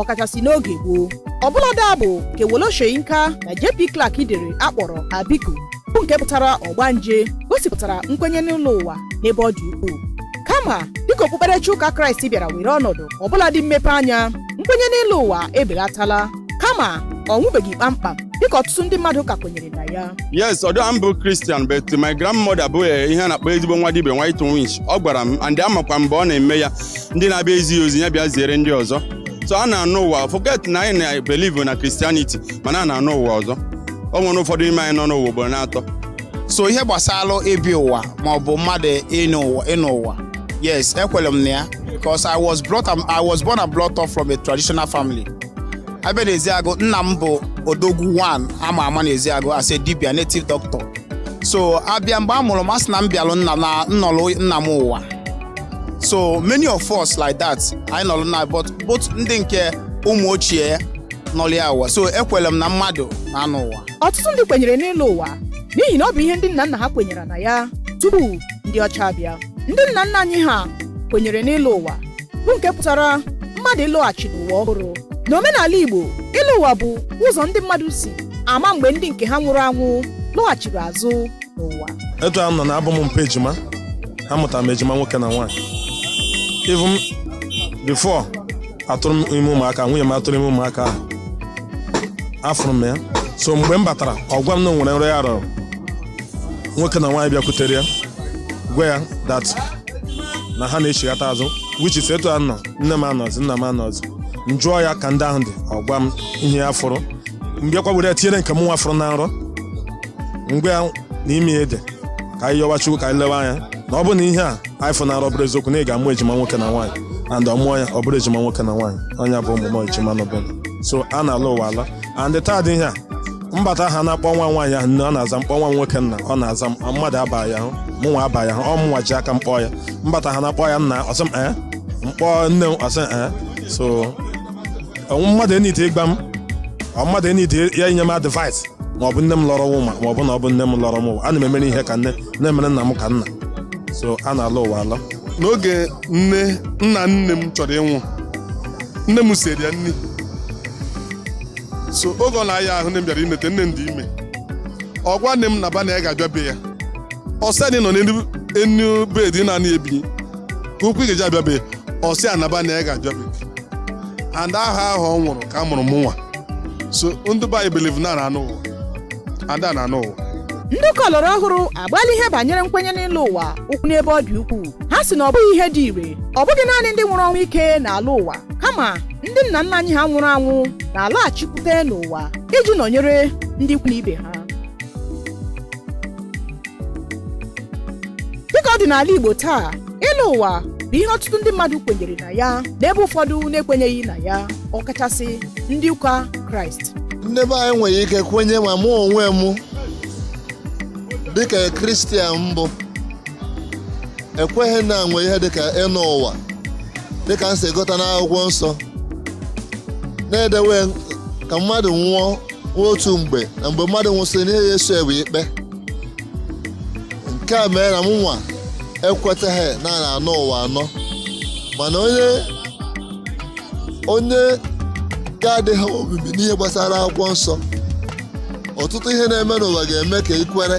ọkachasị n'oge gboo ọbụladị abụ nke Wole Soyinka na JP Clark dere a kpọrọ Abiku bụ nke pụtara ọgbanje gosipụtara nkwenye n'ịlọ ụwa n'ebe ọ dị ukwuu kama dịka okpukperechi ụka kraịst bịara were ọnọdụ ọbụladị mmepe anya nkwenye n'ịlọ ụwa ebelatala kama ọ nwụbeghị kpamkpam dịka ọtụtụ ndị mmadụ ka kwenyere na ya yes although a m bụ Christian but my grandmother bụ eh, ihe a na-akpọ ezigbo nwa dibe white winch ọ gwara m and amakwa mgbe ọ na-eme ya ndị na-abịa ezi ya ozi ya bịa ziere ndị ọzọ so a na-anọ ụwa forget na anyị na-believe na Christianity mana a na-anọ ụwa ọzọ o nwere ụfọdụ n'ime anyị nọ n'ụwa ugboro n'atọ so ihe gbasara ịbịa ụwa ma ọ bụ mmadụ ịnọ ụwa yes ekwere m na ya because i was born and brought up from a traditional family a bịa na eziagụ nna m bụ odogwu one ama ama na eziagụ as a dibia native doctor so a bịa mgbe a mụrụ m a sị na m bịalụ m nọrọ nna m ụwa so many of us like that anyị nọrọ na but both ndị nke ụmụ ochie nọrọ ya ụwa so ekwere m na mmadụ na-anọ ụwa ọtụtụ ndị kwenyere n'ịlọ ụwa n'ihi na ọ bụ ihe ndị nna nna ha kwenyere na ya tupu ndị ọcha abịa ndị nna nna anyị ha kwenyere n'ịlọ ụwa bụ nke pụtara mmadụ ịlọghachi n'ụwa ọhụrụ n'omenala igbo ịlọ ụwa bụ ụzọ ndị mmadụ si ama mgbe ndị nke ha nwụrụ anwụ lọghachiri azụ n'ụwa etu a m nọ na abụ m mpa ejima amụtara m ejima nwoke na nwaanyị even before atụrụ m ime ụmụaka nwunye m atụrụ ime ụmụaka ahụ afụrụ m ya so mgbe m batara ọ gwa m na o nwere nrọ ya rọrọ nwoke na nwaanyị bịakwutere ya gwa ya that na ha na-echighata azụ which is etu a nọ nne m anọzị nna m anọzị m jụọ ya ka ndị ahụ dị ọ gwa m ihe ya fụrụ m bịakwa were ya tinyere nke mụnwa fụrụ na nrọ m gwa ya na ime a ị dị ka anyị yọwa chukwu ka anyị lewe anya na ọ bụ na ihe a anyị fụ na nrọ bụrụ eziokwu na ị ga-amụ ejima nwoke na nwaanyị and ọ mụọ ya ọ bụrụ ejima nwoke na nwaanyị ọ nya bụ ụmụ m ejima nọbụ so a na-alọ ụwa alọ and taa dị ihe a m bata ha na-akpọ nwa nwaanyị ahụ nne ọ na-aza m kpọọ nwa nwoke nna ọ na-aza m mmadụ abaghị ahụ mụnwa abaghị ahụ ọ mụnwa ji aka m kpọọ ya m bata ha na-akpọ ya nna ọ sị m ee m kpọọ nne m ọ sị m ee so o nwe mmadụ eniti ịgba m ọ mmadụ eniti ya inye m advice ma ọ bụ nne m lọrọ ụwa ma ọ bụ na ọ bụ nne m lọrọ m ụwa ana m emere ihe ka nne na-emere nna m ka nna so a na-alọ ụwa alọ n'oge nne nna nne m chọrọ ịnwụ nne m siri ya nri so oge ọ na-aya ahụ nne m bịara inete nne m dị ime ọ gwa nne m na ba na ya ga-abịa be ya ọ sị anyị nọ n'elu enu bed na-anị ebinye ka okwu ị ga-eji abịa be ya ọ sị ya naba na ya ga-abịa be ya and ahọ ahụ ọ nwụrụ ka a mụrụ mụ nwa so ndị be anyị believe na a na-anọ ụwa and a na-anọ ụwa ndị ụka ọlọrọ ọhụrụ agbaala ihe banyere nkwenye n'ịlọ ụwa ụkwụ n'ebe ọ dị ukwuu ha sị na ọ bụghị ihe dị ire ọ bụghị naanị ndị nwụrụ ọnwụ ike na-alọ ụwa kama ndị nna nna anyị ha nwụrụ anwụ na-alaghachikwute n'ụwa iji nọnyere ndị ikwu na ibe ha dịka ọ dị n'ala Igbo taa ịlọ ụwa bụ ihe ọtụtụ ndị mmadụ kwenyere na ya n'ebe ụfọdụ na-ekwenyeghị na ya ọkachasị ndị ụka Kraịst ndị be anyị nwere ike kwenye ma mụ onwe m dịka kristian m bụ ekweghị na e nwe ihe dịka ịnọ ụwa dịka m si gụta n'akwụkwọ nsọ na e dewee ka mmadụ nwụọ nwa otu mgbe na mgbe mmadụ nwụsịrị na ihe ya-eso e wụ ikpe nke a mere na m nwa ekwetaghị na a na-anọ ụwa anọ mana onye ga-adịghị omimi n'ihe gbasara akwụkwọ nsọ ọtụtụ ihe na-eme n'ụwa ga-eme ka i kwere